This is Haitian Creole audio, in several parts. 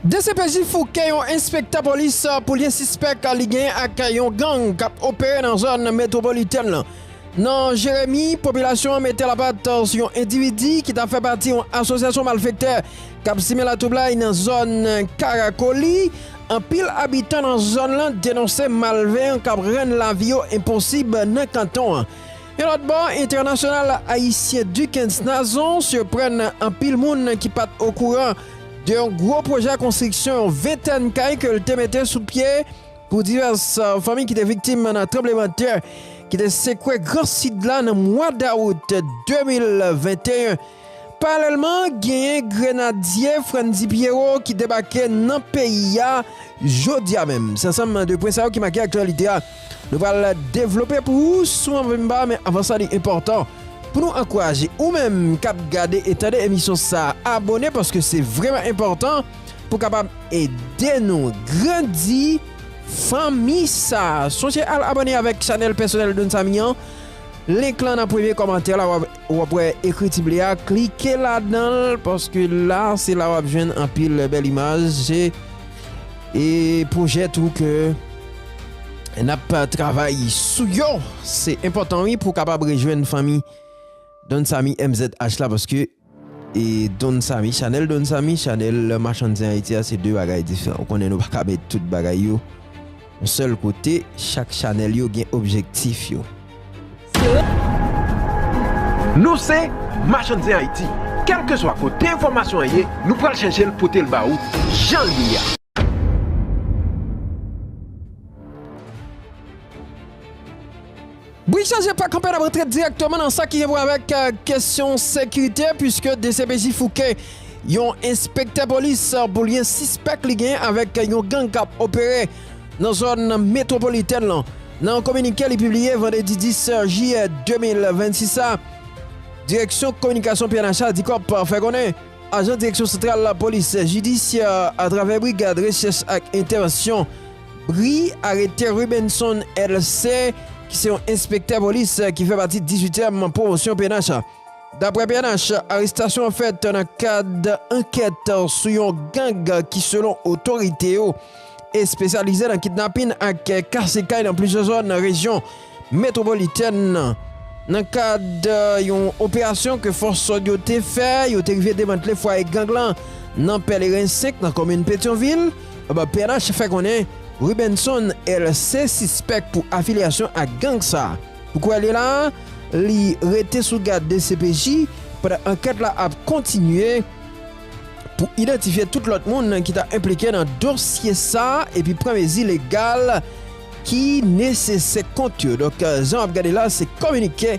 Dcpj fouke yon enspektè polis pou lyen sispèk li genyen ak yon gang k ap opere nan zòn metwopolitèn lan. Nan Jeremi, popilasyon an mete lapat sou yon endividi ki ta fè pati yon asosyasyon malfektè k ap simen latwoublay nan zòn Karakoli. Anpil abitan nan zòn lan denonse malveyan k ap rann lavi yo enposib nan kanton an. Yon lòt bò, entènasyonal ayisyen Duckens Nazon sirprann anpil moun ki pat okouran de yon gwo pwojè konstriksyon yon ventèn kay ke l te mete sou pye pou divès fanmi ki te viktim nan tranbleman tè ki te sekwe gran Sid la nan mwa dawout 2021. Paralèlman, genyen grenadye Frantdy Pierrot ki debake nan peyi a jodi a menm. Se ansanm de pwen sa yo ki make aktyalite a nou pral devlope pou ou sou AnViMba men avan sa li enpòtan pou nou ankouraje ou menm kap gade e tande emisyon sa abone paske se vrèman enpòtan pou kapab ede nou grandi fanmi sa. Sonje al abone avèk chanèl pèsonèl Don Samy an link lan nan premye kòmantè la wap Ou wap wè ekriti ble a klike ladanl paske la se la wap jwenn anpil bèl imaj e pwojè tou ke nap travay sou yo se enpòtan wi pou kapab rejwenn fanmi Don Samy MZH la paske e Don Samy chanèl Don Samy chanèl machann zen Ayiti a se 2 bagay diferan ou konnen nou paka met tout bagay yo Yon sèl kote, chak chanèl yo gen objektif yo. Nou se Machann Zen Ayiti, kèlkeswa kote enfòmasyon an ye, nou pral chèche l pote l ba ou jan l ye a. Bri chanje pa kanpe n ap antre dirèkteman nan sa ki gen pou wè avèk kesyon sekirite puiske dcpj fouke yon enspektè polis pou lyen sispèk li genyen avèk yon gang k ap opere nan zòn metwopolitèn lan. Nan yon kominike li pibliye vandredi 10 jiyè 2026 sa, direksyon kominikasyon pnh a, Dicop, fè konnen. Ajan Direksyon Santral Lapolis Jidisyè a atravè Brigad Rechèch ak Entèvansyon, bri, arete Rubenson LC. ki se yon enspektè polis ki fè pati 18 èm pwomosyon pnh. Daprè pnh, arestasyon an fèt nan kad ankèt sou yon gang ki selon otorite yo, espesyalize nan kidnapin ak kase kay nan plizyè zòn nan rejyon metwopolitèn nan. Nan kad yon operasyon ke fòs sòd yo te fè, yo te rive demantle fwaye gang lan nan Pèleren 5 nan komin Petyonvil. Pnh fè konnen Rubenson LC sispèk pou afilyasyon ak gang sa. Pou kouwè li la, li rete sou gad dcpj pandan ankèt la ap kontinye. pou idantifye tout lòt moun ki ta enplike nan dosye sa epi pran mezi legal ki nesesè kont yo. Donk, jan w ap gade la, se kominike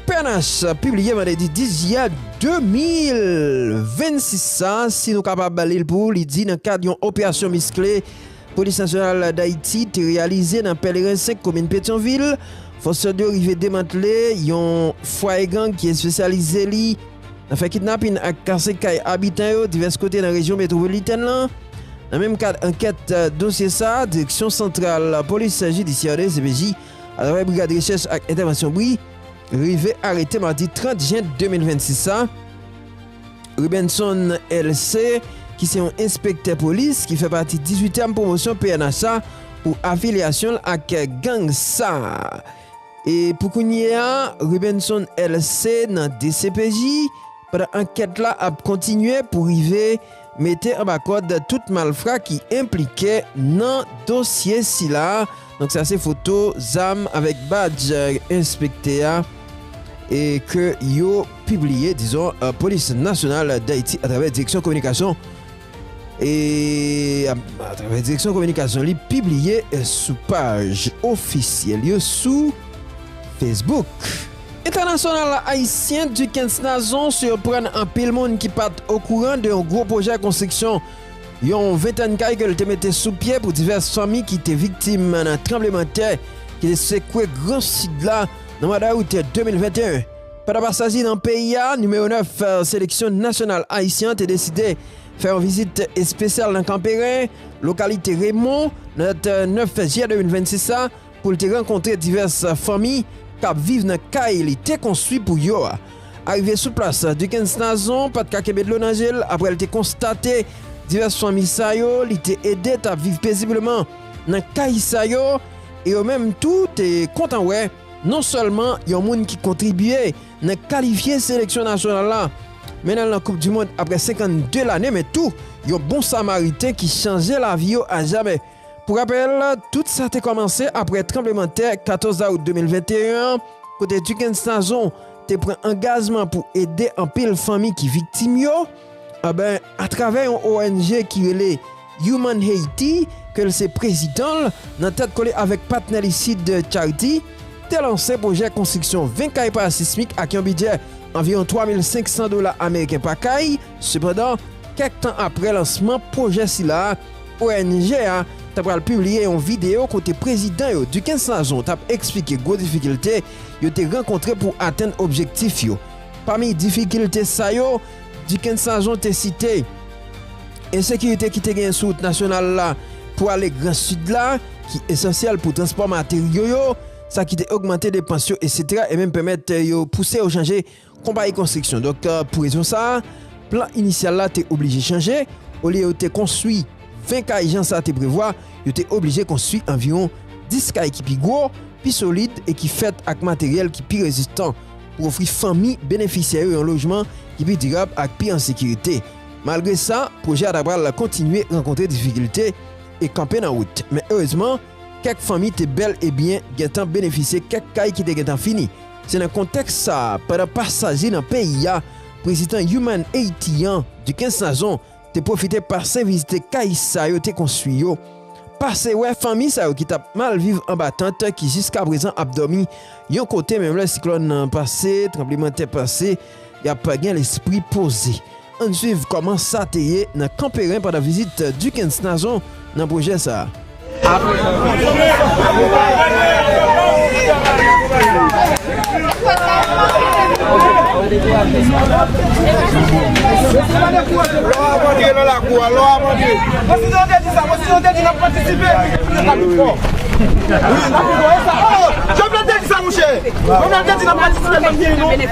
pnh pibliye vandredi 10 jiyè 2026 sa, si nou kapab li l pou ou, li di nan kad yon operasyon miskle, Polis Nasyonal Dayiti te reyalize nan Pèleren 5 komin Petyonvil, fòs lòd yo rive demantle yon fwaye gang ki espesyalize li nan fè kidnapin ak kase kay abitan yo divès kote nan rejyon metwopolitèn lan. Nan menm kad ankèt dosye sa, Direksyon Santral Polis Jidisyè, dcpj, atravè Brigad Rechèch ak Entèvansyon, bri, rive arete madi 30 jen 2026 sa, Rubenson LC. ki se yon enspektè polis ki fè pati 18 èm pwomosyon pnh a pou afilyasyon l ak gang sa a. E pou kounye a, Rubenson LC. nan dcpj pandan ankèt la ap kontinye pou rive mete anba kòd tout malfra ki enplike nan dosye sila. Donk sa se foto zam avèk badj enspektè a e ke yo pibliye dizon Polis Nasyonal Dayiti atravè Direksyon Kominikasyon e atravè Direksyon Kominikasyon li pibliye sou paj ofisyèl yo sou Facebook. Entènasyonal la Ayisyen Dukens Nazon siyopràn anpil moun ki pat okouran de yon gwo pwojè konstriksyon Yon ventèn kay ke l te mete sou pye pou divès fanmi ki te viktim nan tranbleman tè ki te sekwe gran Sid la nan mwa dawout 2021. Pandan pasaj li nan peyi a, nimewo 9 seleksyon nasyonal ayisyen an te deside fè yon vizit espesyal nan Kanperen, lokalite Remon, nan dat 9 jiyè 2026 la, Pou l te rankontre divès fanmi k ap viv nan kay li te konstwi pou yo a. Arive sou plas, Duckens Nazon pa t ka kenbe dlo nan je l apre l te konstate divès fanmi sa yo li te ede t ap viv pezibleman nan kay sa yo e yo menm tou te kontan wè non sèlman yon moun ki kontribye nan kalifye seleksyon nasyonal la mennen l nan koup dimond apre 52 lane men tou yon bon samariten ki chanje lavi yo ajamè. Pou rapèl, tout sa te kòmanse aprè tranblemanntè 14 dawout 2021 an, kote Duckens Nazon te pran angajman pou ede anpil fanmi ki viktim yo. Anben, atravè yon ong ki rele Human Haiti, ke l se prezidan l, nan tèt kole avèk patnè li Seed Charity, te lanse pwojè konstriksyon 20 kay parasismik ak yon bidjè anviwon 3,500 dola ameriken pa kay. Sepandan, kèk tan aprè lansman pwojè sila, Ong a ta pral pibliye yon videyo kote prezidan yo Duckens Nazon t ap eksplike gwo difikilte yo te rankontre pou atenn objektif yo. Pami difikilte sa yo, Duckens Nazon te site, ensekirite ki te genyen sou wout nasyonal la pou ale gran sid la, ki esansyèl pou transpò materyo yo, sa ki te ogmante depans yo, eksetera, e menm pèmèt yo pouse yo chanje Konpayi konstriksyon Doktè pou rezon sa a, plan inisyal la te oblije chanje, olye yo te konstwi 20 kay jan sa te prevwa, yo te oblije konstwi anviwon 10 kay ki pi gwo, pi solid e ki fèt ak materyèl ki pi rezistan pou ofri fanmi benefisyè yo yon lojman ki pi dirab ak pi an sekirite. Malgre sa, pwojè a ta pral kontinye rankontre difikilte e kanpe nan wout. Men erezman, kèk fanmi te bèl e byen gentan benefisye kèk kay ki te gentan fini. Se nan kontèks sa a, pandan pasaj li nan peyi a, Prezidan Human Haiti an, Duquesne Nazon, te pwofite pase vizite kay sa yo te konstwi yo, pase wè fanmi sa yo ki t ap mal viv anba tant ki jiskaprezan ap dòmi yon kote menm lè siklòn nan pase, tranblemanntè pase. Y ap gen lespri poze. Ann swiv kòman sa te ye nan Kanperen pandan vizit Dikens Nazon nan pwojè sa a. Apre yon bon jan de tan, nou va rantre nan peryòd Sezon Kale pou Bèl Pwodui.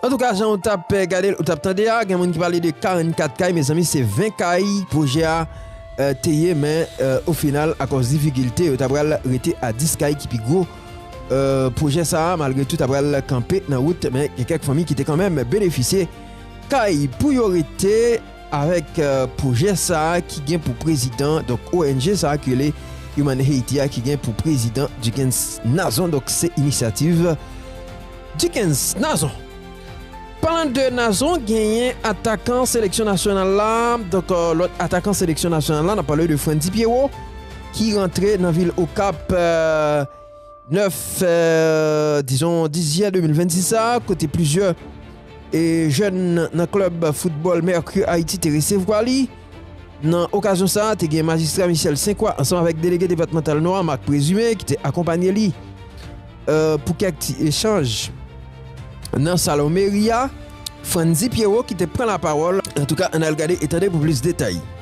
Antouka jan ou tap gade ou tap tande a gen moun ki pale de 44 kay mezanmi se 20 kay pwojè a euh, te ye men o euh, final akòz difikilte yo ta pral rete a 10 kay ki pi gwo euh, pwojè sa a malgre tout ta pral kanpe nan wout men gen kèk fanmi ki te kanmenm benefisye kay pou yo rete Avèk pwojè sa a ki gen pou prezidan, donk ong sa a ki rele Human Haiti a ki gen pou prezidan Duckens Nazon, donk se inisyativ Duckens Nazon. Palan de Nazon genyen atakan seleksyon nasyonal la, donk lòt atakan seleksyon nasyonal la n ap pale de Frantzy Pierrot ki rantre nan vil Okap. 9 dizon dizye 2026 sa a kote plizyè e jèn nan klub football Mercure Haiti te resevwa li. Nan okazyon sa a te gen majistra Michel Senkwa ansanm avèk delege depatmantal Nò a Marc Présumé ki te akonpanye li euh, pou kèk ti echanj nan salon meri a. Frandy Pierrot ki te pran lapawòl. Antouka ann al gade e tande pou plis detay.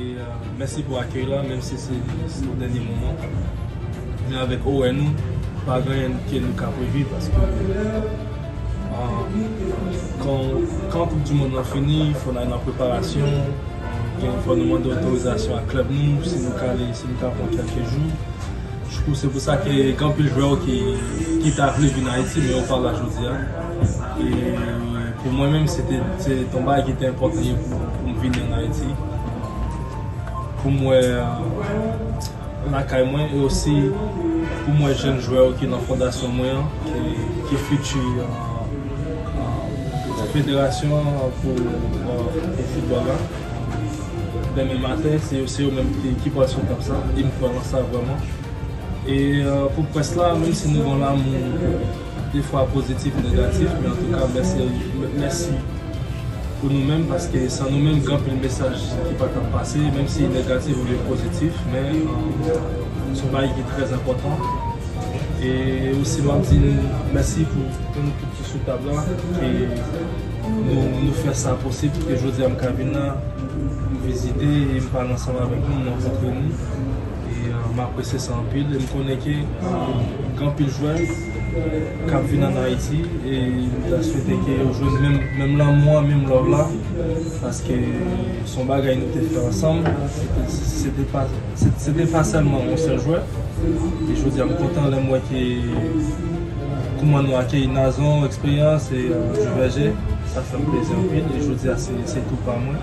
E mèsi pou akèy la menm si se sou dènye moman jan avèk ou wè nou pa gen anyen ke nou ka previ paske kan koup di mond lan fini fò n al nan preparasyon donk fò nou mande otorizasyon a klèb nou si nou ka ale si nou ka pran kèlke jou se pou sa ke gen anpil jwè yo ki ta vle vin Ayiti men yo pa la jodia. Pou mwen menm se te yon bagay ki te enpòtan pou m vini an Ayiti. Pou m wè lakay mwen e osi pou m wè jèn jwè yo ki nan fondasyon mwen an, ki fiti federasyon an pou foutbòl la. Demen maten se yo menm ki pral sou tab sa e m kwè nan sa vrèman. E pou près la menm si nou gen lanmou. 2 fwa pozitif negatif men antouka mèsi pou nou menm paske san nou menm gen anpil mesaj ki pa tap pase menm si negatif oubyen pozitif men son bagay ki trè enpòtan e osi map di nou mèsi pou nou tout ki sou tab la ke nou fè sa posib pou ke jodia m ka vin la m vizite e m pale ansanm avèk nou m rankontre nou. M apresye sa anpil e m konnen ke gen anpil jwè k ap vin ann Ayiti e m ta swete ke yo jwenn menm lanmou an, menm love la paske se yon bagay nou te fè ansanm se te pa sèlman yon sèl jwè e jodi a m kontan lè m wè ke kouman nou akeyi Nazon, Eksperyans e Duverger sa fè m plezi anpil e jodi a se tou pa mwen.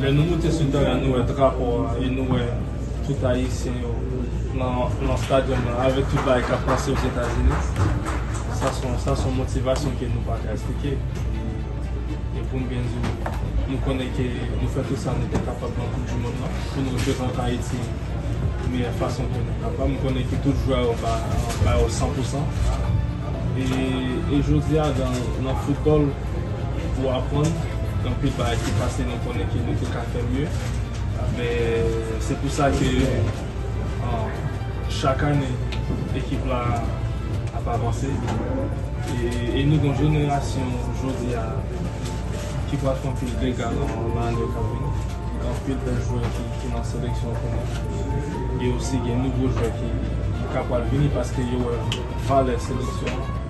Lè nou moute sou teren an, nou wè drapo a e nou wè tout Ayisyen yo nan stadyòm nan avèk tout bagay k ap pase Ozetazini. Sa son motivasyon ke nou pa ka esplike. E pou m byen di w, nou konnen ke nou fè tout sa nou te kapab nan koup di mond lan pou nou reprezante Ayiti meyè fason ke nou kapab. M konnen ke tout jwè yo ba yo san pou san. E jodi a nan foutbòl. Ou aprann anpil bagay ki pase nou konnen ke nou te ka fè mye men se pou sa ke chak ane ekip la ap avanse e nou gon jenerasyon jodi a ki pral fè anpil dega nan ane yo kap vini gen anpil bèl jwè ki nan seleksyon kounye e osi gen nouvo jwè ki ka pral vini paske yo wè valè seleksyon an.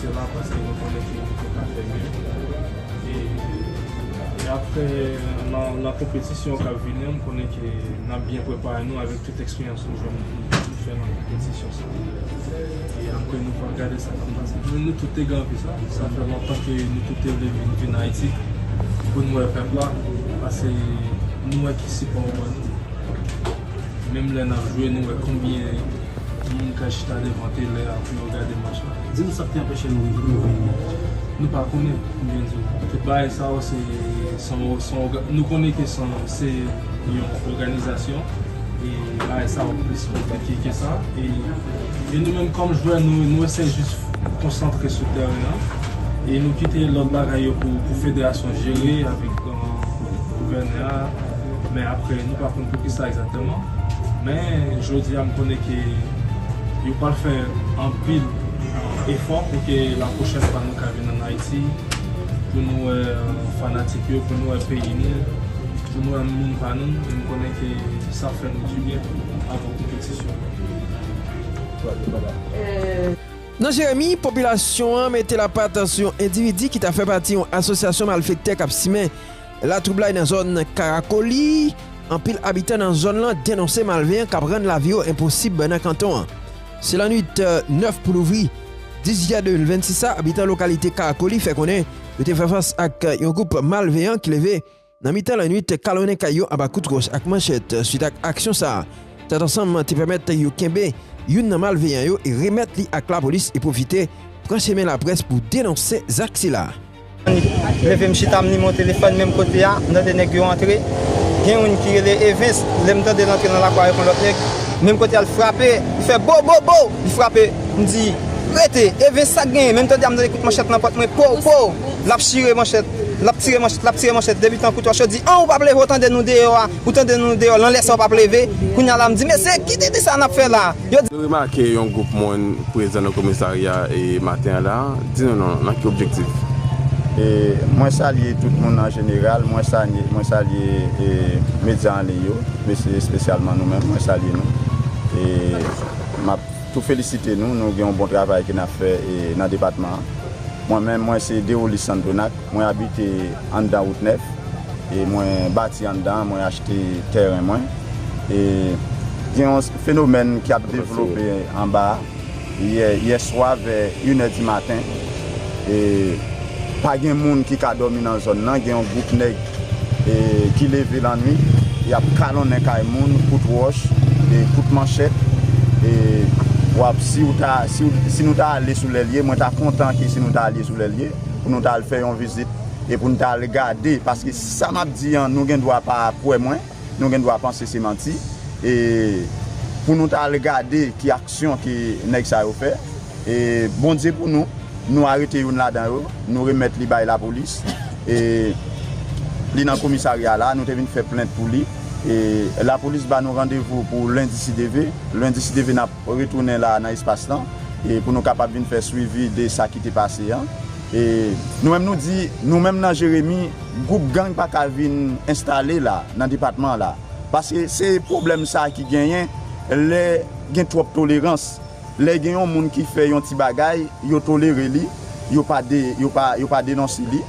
Se pa paske nou konnen ke nou te ka fè mye. E apre nan konpetisyon kap vini an m konnen ke nap byen prepare nou avèk tout eksperyans nou jwenn nou fè nan konpetisyon sa. E apre nou pral gade sa kap pase. Mwen nou tout te ganpe. Sa fè lontan ke nou tout te vle vin vin Ayiti pou nou wè pèp la. Pase nou wè ki sipò yo ban nou. Menm lè nap jwe nou wè konbyen Moun ka chita devan tele a pou yo gade match la di m sak te anpeche nou rive nou vini nou pa konnen m byen diw tout bagay sa yo se son nou konnen ke son se yon òganizasyon e bagay sa yo plis konplike ke sa e nou menm kòm jwè nou eseye jis konsantre sou tèren an e nou kite lòt bagay yo pou federasyon jere avèk. gouvènè a men aprè nou pa konn poukisa egzatèman men jodia m konnen ke yo pral fè anpil efò pou ke la pwochèn fwa nou ka vin an Ayiti pou nou wè fanatik yo pou nou wè peyi nou pou nou wè moun pa nou e m konnen ke sa ap fè nou du byen tou avan konpetisyon an. Nan Jeremi, popilasyon an mete lapat sou yon endividi ki ta fè pati yon asosyasyon malfektè k ap simen latwoublay nan zòn Karakoli. Anpil abitan nan zòn lan denonse malveyan k ap rann lavi yo enposib nan kanton an. Se lannwit 9 pou louvri 10 jiyè 2026 sa, abitan lokalite Karakoli fè konnen yo te fè fas ak yon gwoup malveyan ki leve, Nan mitan lannuit, kalonnen kay yo anba kout wòch ak manchèt. Suit ak aksyon sa a, tèt ansanm te pèmèt yo kenbe youn nan malveyan yo e remèt li ak lapolis e pwofite pran chemen laprès pou denonse zak sila. M leve m chita m li mon telefòn menm kote a m tande nèg yo antre gen youn ki rele Evens lè m tande l antre nan lakwa avèk yon lòt nèg menm kote a l frape li fè bo bo bo li frape m di rete Evens sak genyen menm tande a m tande kout manchèt nan pòt mwen pow pow. L ap chire manchèt, l ap tire manchèt, l ap tire manchèt, depi tankou twa cho di, an ou p ap leve ou tande nou deyò a, ou tande nou deyò lan lè sa ou p ap leve, kounye a la m di mesye ki dede sa n ap fè la a? Nou remake yon gwoup moun prezan nan komisarya e maten an la, di nou non, nan ki objektif? E mwen salye tout moun an jeneral, mwen salye, mwen salye e medya an liy yo, mesye espesyalman nou menm mwen salye nou e m ap. tou felisite nou, nou gen yon bon travay ke nap fè nan depatman an. Mwen menm, mwen se Derolis Sandonac, mwen abite anndan wout nèf e mwen bati anndan an, mwen achte tèren mwen e gen yon fenomèn ki ap devlope anba a, yè swa vè inè di maten, e pa gen moun ki ka dòmi nan zòn nan, gen yon gwoup nèg e ki leve lannwit y ap kalonnen kay moun, kout wòch e kout manchèt e w ap si w ta si nou ta ale sou lè l ye mwen ta kontan ke si nou ta ale sou lè l ye pou nou ta al fè yon vizit e pou nou ta al gade paske sa m ap di an nou gen dwa pa kwè mwen nou gen dwa panse se manti e pou nou ta al gade ki aksyon ke nèg sa yo fè. E Bondye pou nou, nou arete youn ladan yo, nou remèt li bay lapolis e li nan komisarya la, nou te vin fè plent pou li e lapolis ba nou randevou pou lendi si Dye ve, lendi si Dye ve nap retounen la nan espas lan e pou nou kapab vin fè swivi de sa ki te pase an e nou menm nou di nou menm nan Jeremi gwoup gang pa ka vin enstale la nan depatman la paske se pwoblèm sa ki genyen lè gen twòp tolerans. Lè gen yon moun ki fè yon ti bagay, yo tolere li, yo pa de, yo pa, yo pa denonse li.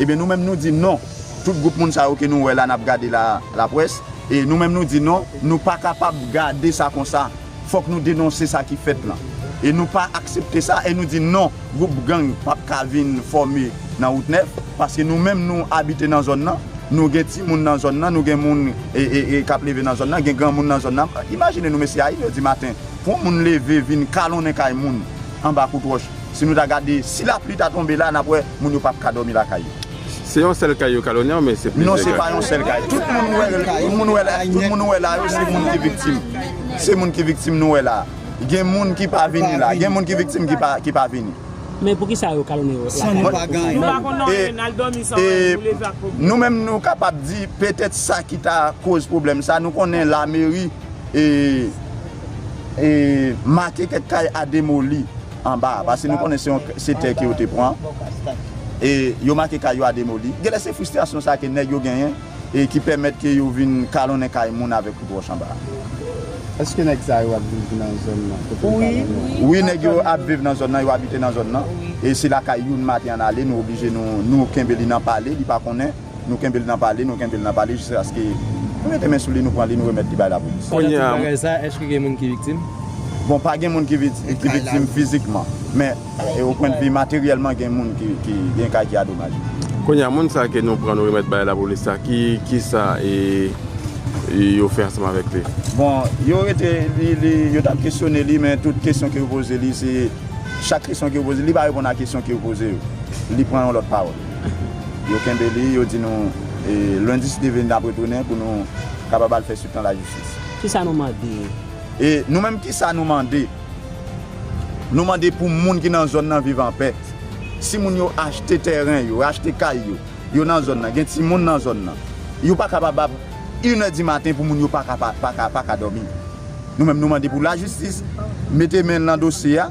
Ebyen nou menm nou di non, tout gwoup moun sa yo ke nou wè la nap gade la a, laprès, e nou menm nou di non, nou pa kapab gade sa konsa, fòk nou denonse sa ki fèt lan. E nou pa aksepte sa, e nou di non, gwoup gang pap ka vin fòme nan wout nèf, paske nou menm nou abite nan zòn lan, nou gen ti moun nan zòn lan, nou gen moun e, e, e kap leve nan zòn lan, gen granmoun nan zòn lan, imajine nou mesye a, 1 è di maten. Pou moun leve vin kalonnen kay moun anba kout wòch, si nou ta gade, si lapli ta tonbe la, n ap wè moun yo p ap ka dòmi lakay yo. Se yon sèl kay yo kalonnen oubyen se plizyè kay? Non, se pa yon sèl kay. Tout moun nou wè la yo, se moun ki viktim. Se moun ki viktim nou wè la a. Gen moun ki pa vini la. Gen moun ki viktim ki pa vini. Men pou ki sa yo kalonnen yo lakay yo pou fè anmèl? Nou menm nou kapab di petèt sa ki ta koz pwoblèm sa, nou konnen lameri. e make kèk kay a demoli anba a pase nou konnen se tè ke yo te pran e yo make kay yo a demoli genlè se fristrasyon sa ke nèg yo genyen e ki pèmèt ke yo vin kalonnen kay moun avèk kout wòch anba a. Eske nèg sa yo ap viv nan zòn nan kote nou pale nou an? Wi nèg yo ap viv nan zòn nan yo abite nan zòn nan e se lakay youn maten an ale nou oblije nou kenbe li nan pale li pa konnen. Nou kenbe l nan pale, nou kenbe l nan pale jiskaske nou mete men sou li, nou pran li, nou remèt li bay lapolis. Pandan tout bagay sa, èske gen moun ki viktim? Bon, pa gen moun ki viktim fizikman. Men, o pwen de vi materyèlman, gen moun ki, gen kay ki adomaje. Kounye a, moun sa ke nou pran, nou remèt bay lapolis sa, ki sa yo fè ansanm avèk li? Bon, yo rete, yo t ap kesyone li, men tout kesyon ke yo poze li, se chak kesyon ke yo poze li, li pa reponn a kesyon ke yo poze yo. Li pran yon lòt pawòl. Yo kenbe li, yo di nou Lundi si Dieu veut nap retounen pou nou kapab al fè suit nan lajistis. Kisa nou mande? E nou menm kisa nou mande? Nou mande pou moun ki nan zòn nan viv anpè. Si moun yo achte tèren yo, achte kay yo, yo nan zòn nan, gen timoun nan zòn nan, yo pa kapabab inè di maten pou moun yo pa ka dòmi. Nou menm nou mande pou lajistis mete men l nan dosye a.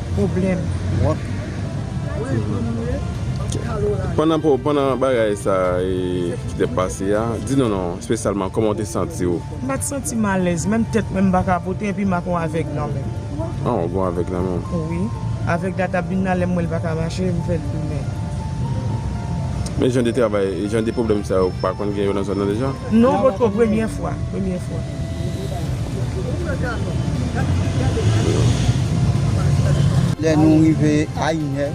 pwoblèm twòp toujou. Pandan bagay sa ki te pase a, di nou non, espesyalman kòman w te santi w? M pa t santi m alèz, menm tèt mwen m pa ka pote epi m ak yon avèg nan men m. An, w ak yon avèg nan men w? Wi. Avèg la t ap vin nan lè m wè l pa ka mache, m fè l tounen. Men jan de travay, jan de pwoblèm sa yo, ou pa konn gen yo nan zòn nan deja? Non, potko premye fwa. Premye fwa. Lè nou rive a inè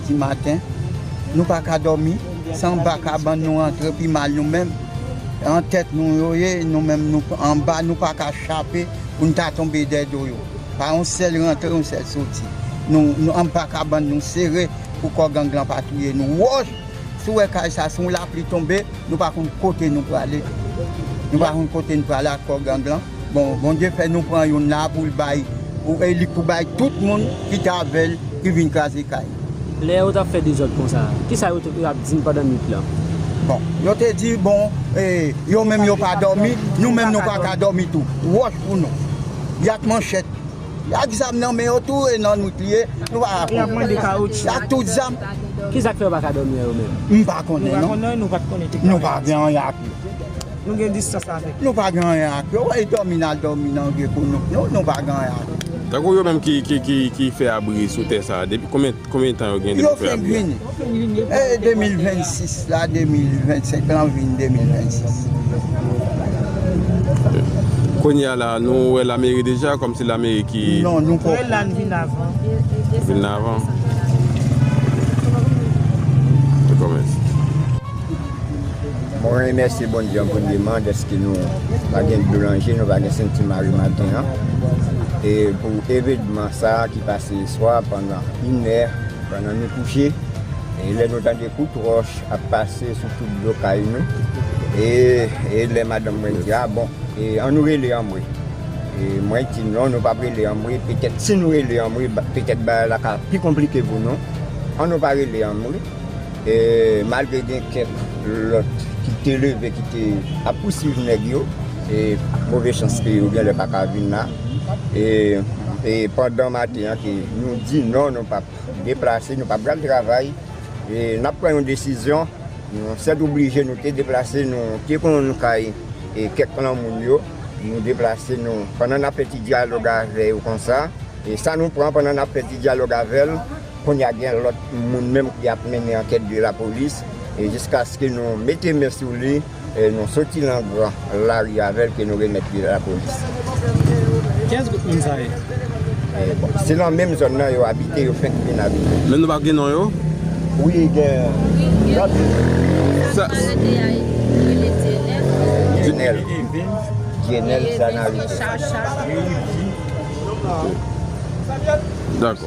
di maten, nou pa ka dòmi san ba kabann nou antre pi mal nou menm. An tèt nou yo ye, nou menm nou anba nou pa ka chape pou n ta tonbe dè do yo. Pa yon sèl rantre yon sèl soti. Nou anba kabann nou sere pou kò gang lan pa touye nou. Wòch! Si ou wè kay sa si yon lapli tonbe nou pa konn kote nou prale nou pa konn kote nou prale ak kò gang lan bon Bondye fè nou pran youn la poul bay li pou bay tout moun ki t avèl ki vin kraze kay li. Lè yo tap fè dezòd konsa kisa yo tap di pandan nwit lan? Bon yo te di bon yo menm yo pa dòmi nou menm nou paka dòmi tou wòch pou nou y ak manchèt. Yo ak zam nan men yo tou e nan nwit li ye, nou pa ka konprann. Yo ak tout zam. Ki sa k fè yo pa ka dòmi an yo menm? M pa konnen non. Nou pa gen anyen ak yo. Nou gen distans avèk yo. Nou pa gen anyen ak yo. Wè dòmi n al dòmi nan vye kounouk nou, nou pa gen anyen ak yo. Tankou yo menm ki fè abri sou tè sa a, depi konbyen. Konbyen tan yo gen depi fè abri a? Yo fè green e 2026 la 2025 lan vin 2026. Kounye a la nou wè lameri deja kòm se lameri ki. Non nou poko. Wè la l vin avan. Vin avan. Ok. Ok mèsi. Mwen remèsye Bondye an premyeman dèske nou pa gen dlo nan je nou pa gen senti mare maten an e pou evenman sa ki pase yeswa pandan. Inè pandan nou kouche e lè nou tande kout wòch ap pase sou tout do kay nou e lè madanm mwen di a bon an nou rele anmwe e mwen di non nou pap rele anmwe petèt si nou rele anmwe petèt bagay la ka pi konplike pou nou an nou pa rele anmwe. E malgre gen kèk lòt ki te leve ki te ap pousuiv nèg yo, e move chans ke yo genlè pa ka vin la, e pandan maten an ke nou di non nou pap deplase, nou pap pral travay, e nap pran yon desizyon, nou sètoblije nou te deplase, nou te konn kay kèk lan moun yo, nou deplase nou pandan nap fè ti dyalòg avè yo konsa, e sa nou pran pandan nap fè ti dyalòg avèl. Kounya gen lòt moun menm ki ap mennen ankèt de lapolis e jiskaske nou mete men sou li e nou soti nan gran lari avèl ke nou remèt li lapolis. Kiyès gwoup moun sa ye? Bon, se nan menm zòn nan yo abite, yo fenk vin abite. Men nou pa gen non yo? Wi gen lòt. Sa nou rete a yo rele Dienel. Dienel. Evens. Dienel Sanarite. Evens Richard Charles. Rudy. Dakò.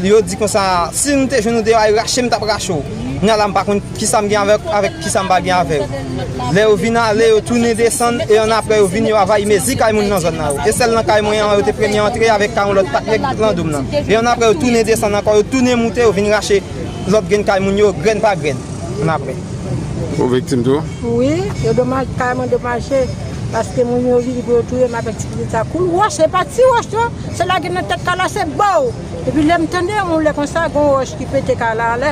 Yo di konsa, si m te jwenn ou deyò a, yo rache m, m t ap rache w. Kounye a la m pa konn ki sa m gen avè w, avèk ki sa m pa gen avè w. Lè yo vin ale, yo tounen desann, e annapre yo vin, yo avayi mezi kay moun nan zòn nan yo. E sèl nan kay mwen an, yo te premye antre avèk kay yon lòt pak nèg lan do m nan. E annapre yo tounen desann ankò, yo tounen moute, yo vin rache lòt grenn kay moun yo, grenn pa grenn, annapre. Ou viktim tou? Wi, yo domaj, kay mwen domaje, paske moun yo vini pou yo touye m avèk ti pitit sa. Kou wòch, se pa ti wòch non! Se lage nan tèt Carla se bow! Epi lè m tande yon lè konsa gon wòch ki pete Carla anlè,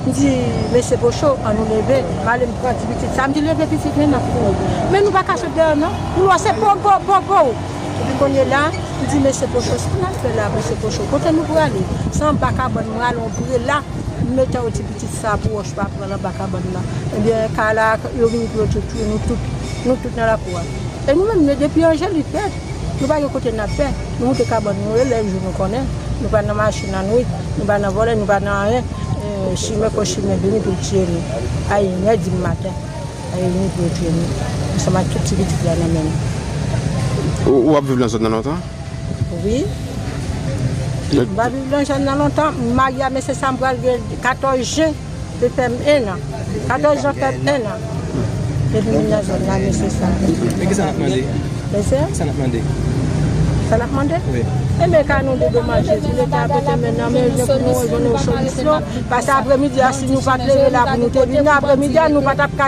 m di mesye Pocho an nou leve, m ale m pran ti pitit sa, m di leve pitit men nan kouri. Men nou pa ka sot deyò non, kouloa se pow pow pow pow! Epi kounye la, m di mesye Pocho sa n al fè la mesye Pocho, kote nou prale? Se anba kabann mwen ale yon prela m mete yon ti pitit sa pou wòch pa pran l anba kabann nan. Ebyen Carla ak Urmi yo tout tou nou tout, nou tout nan lakou a. E nou menm nou depi Angelik rèd. Nou pa gen kote nap fè, nou moute kabann nou e lè jou nou konnen, nou pa nan mache nan nwit, nou pa nan vòlè, nou pa nan anyen, chimè kon chimè vini pou l tiye nou a in è di maten, a ini pou yo tiye nou ansanm ak tout ti pitit la nan men nou. Ou ap viv nan zòn nan lontan? Wi. M pa viv nan zòn nan lontan, m marye a mesye sa m pral gen 14 jen. Se fèm 1 an. 14 jan fèm 1 an. Depi moun nan zòn nan mesye sa. Men kisa nap mande? Mesye? Kisa nap mande? Sa nap mande? Wi. Enben ka nou de deman Jezi leta mete men nan men nou pou nou jwenn yon solisyon. Pase apremidi a si nou pat leve la pou nou te vin nan apremidi a nou patap ka.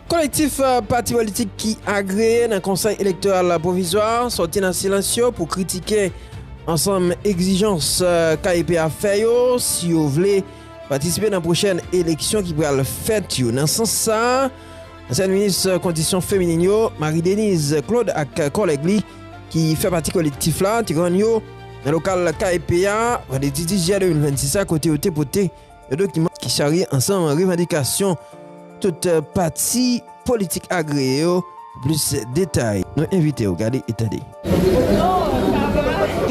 Kolektif pati politik ki agreye nan Konsèy Elektoral Pwovizwa sòti nan silans yo pou kritike ansanm egzijans KEP a fè yo si yo vle patisipe nan pwochèn eleksyon ki pral fèt yo. Nan sans sa, ansyèn minis kondisyon feminin yo, Marie Denise Claude ak kòlèg li ki fè pati kolektif la te rann yo nan lokal KEP a vandredi 10 jiyè 2026 a kote yo te pote Yon dokiman ki charye ansanm revandikasyon tout pati politik agreye yo. Pou plis detay, nou envite w gade e tande.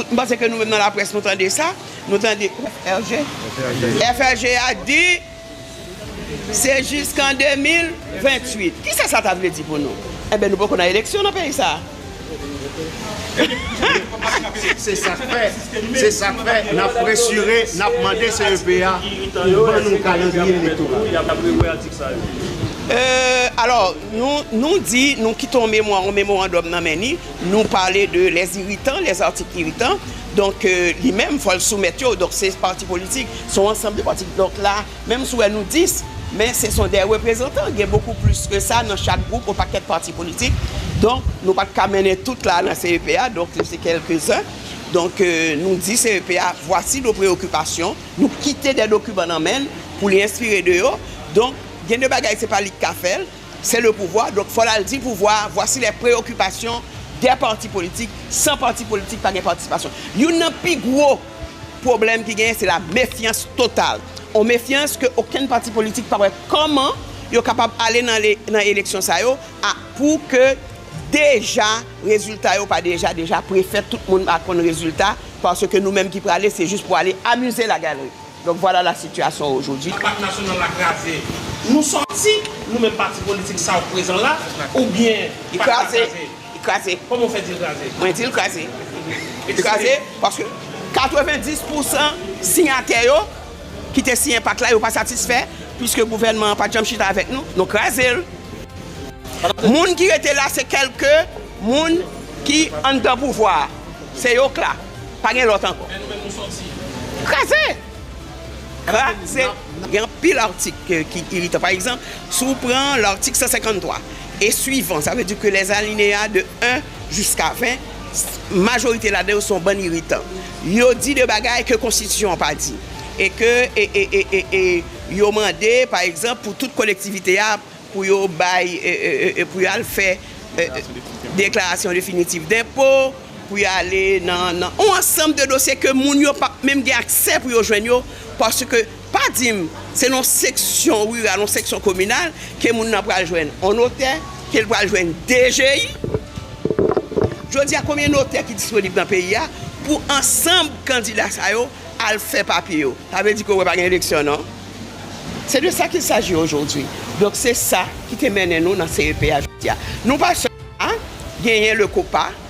M panse ke nou menm nan laprès nou tande sa, nou tande FRG. FRG a di se jiskan 2028. Kisa sa ta vle di pou nou? Enben nou poko nan eleksyon nan peyi sa a. Se sak fè, se sak fè nap presire, nap mande CEP a pou ban nou kalandriye elektoral. Euh alò nou nou di nou kite yon memwa yon memorandòm nan men ni nou pale de les irritants les articles irritants donk li menm fòl soumèt yo donk se pati politik se yon ansanm de pati donk la Menm si w wè nou 10, men se son de reprezantan, gen bokou plis ke sa nan chak gwoup, yon pakèt pati politik, donk nou pa t ka mennen tout la nan CEP a, donk nou se kelke zen, donk nou di CEP a vwasi nos preoccupations, nou kite de dokiman nan men l pou li enspire de yo, donk gen de bagay se pa li ki ka fè l, se le pouvwa, donk fò l al di pouvwa a vwasi les preoccupations des partis politiques, san pati politik pa gen patisipasyon. Youn nan pi gwo. Pwoblèm ki genyen se la mefyans total. On mefyans ke okenn pati politik pa wè kòman yo kapab ale nan eleksyon sa yo a pou ke deja rezilta yo pa deja deja prefèt tout moun pa konn rezilta paske nou menm ki prale se jis pou ale amize la galerie. Donk vwala la sitiyasyon ojodi. Ak Pak Nasyonal la kraze, nou sòti, nou menm pati politik sa yo k prezan la oubyen Pak la kraze? Li kraze. Kòman ou fè di l kraze? Mwen di l kraze. Li kraze paske 90 pousan siyatè yo ki te siyen pak la yo pa satisfè piske gouvènman an pa t janm chita avèk nou, nou kraze l. Moun ki rete la se kèlke moun ki anndan pouvwa a. Se yo k la. Pa gen lòt ankò. Men nou menm nou sòti. Kraze! Kraze! Gen anpil atik ki iritan. Pa egzanp, si w pran latik 153, e swivan, sa vle di ke lè alineya de 1 jiska 20, majorite ladan yo se yon bann iritan. Yo di de bagay ke konstitisyon an pa di. E ke e yo mande, pa egzanp, pou tout kolektivite a pou yo bay, pou yo al fè deklarasyon definitif denpo, pou yo ale nan yon ansanm de dosye ke moun yo pap menm gen aksè pou yo jwenn yo paske. Pa di m, se nan yon seksyon riral, yon seksyon kominal, ke moun nan pral jwenn yon notè, ke l pral jwenn DGI. Jodi a, konbyen notè ki disponib nan peyi a pou ansanb kandida sa yo al fè papye yo? Sa vle di ke wè pa gen eleksyon non. Se de sa kil saji ojodi. Donk se sa ki te mennen nou nan CEP a jodi a. Nou pa sèl la, genyen Lecopa,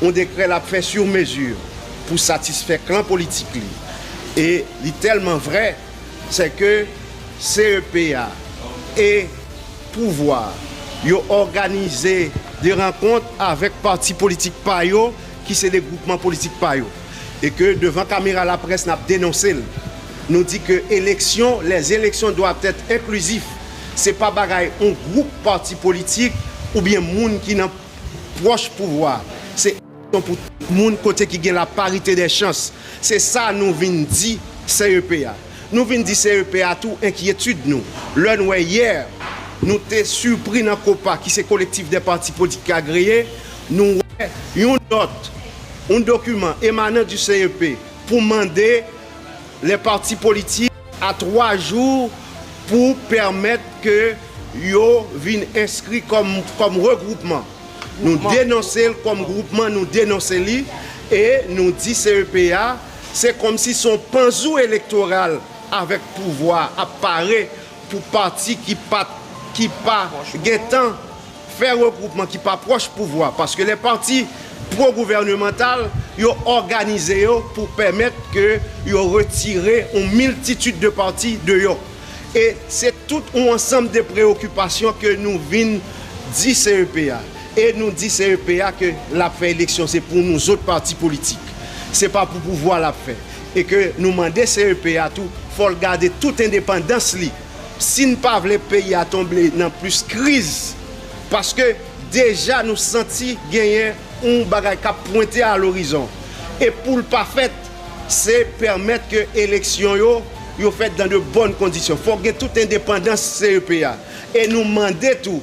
yon dekrè l ap fè sur mesure pou satisfè klan politik li e li tèlman vrè sè ke CEP a e pouvwa yo òganize de rankont avèk pati politik pa yo ki se de gwoupman politik pa yo e ke devan kamera laprès n ap denonse l nou di ke eleksyon les elections doivent être inclusifs se pa bagay yon gwoup pati politik oubyen moun ki nan Pwòch pouvwa se aksyon pou tout moun kote ki gen la parite dè chans. Se sa nou vin di CEP a. Nou vin di CEP a tou enkyetid nou lè n wè yè nou te sipri nan Copa ki se Kolektif dè Pati Politik Agreye, nou wè yon nòt, yon dokiman emanan di CEP pou mande Lè pati politik. A 3 jou pou pèmèt ke yo vin enskri kòm regwoupman. Nou denonse l kòm gwoupman, nou denonse li e nou di CEP a se kòmsi se yon panzou elektoral avèk pouvwa ap pare pou pati ki pa gentan Fè regwoupman ki pa pwòch pouvwa paske lè pati pwo gouvènemantal yo òganize yo pou pèmèt ke yo retire yon miltitid de pati deyò. E se tout yon ansanm de preyokipasyon ke nou vin di CEP a. E nou di CEP a ke l ap fè eleksyon se pou nou zot pati politik. Se pa pou pouvwa l ap fè. E ke nou mande CEP a tou fò l gade tout endepandans li. si n pa vle peyi a tonble nan plis kriz paske deja nou santi genyen yon bagay k ap pwente a lorizon e pou l pa fèt se pèmèt ke eleksyon yo yo fèt dan de bòn kondisyon fòk gen tout endepandans CEP a e nou mande tou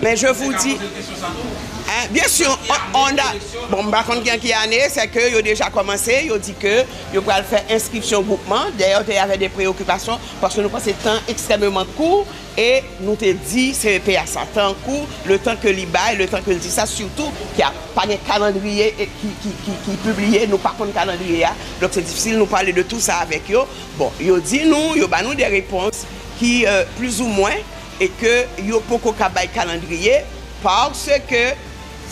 Men je vous di. Yo te ka poze l kesyon sa tou? Hein, bien sûr, on, on a, bon m pa konn gen ki ane, c'est que yo deja kòmanse, yo di ke yo pral fè enskripsyon gwoupman, dayè te avè de preokipasyon, paske nou panse tan ekstrèmeman kou, e nou te di CEP a sa, tan an kou, le tan ke li bay, le tan ke l di sa, sitou ke a pa gen kalandriye ki, ki, ki, ki pibliye, nou pa konn kalandriye a, donk se difisil nou pale de tou sa avèk yo, bon, yo di nou, yo ba nou de repons ki, euh, plizoumwen. e ke yo poko ka bay kalandriye paske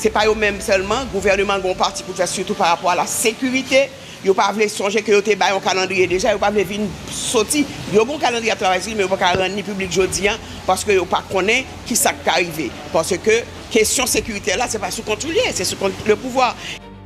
se pa yo menm sèlman gouvèneman an gen yon pati pou l fè sitou pa rapò a la sekirite yo pa vle sonje ke yo te bay yon kalandriye deja yo pa vle vin soti yo gen yon kalandriye y ap travay sou li men yo pa ka rann li piblik jodi an paske yo pa konnen ki sa k ka rive paske kesyon sekirite la se pa sou kont ou l ye se sou kont lepouvwa.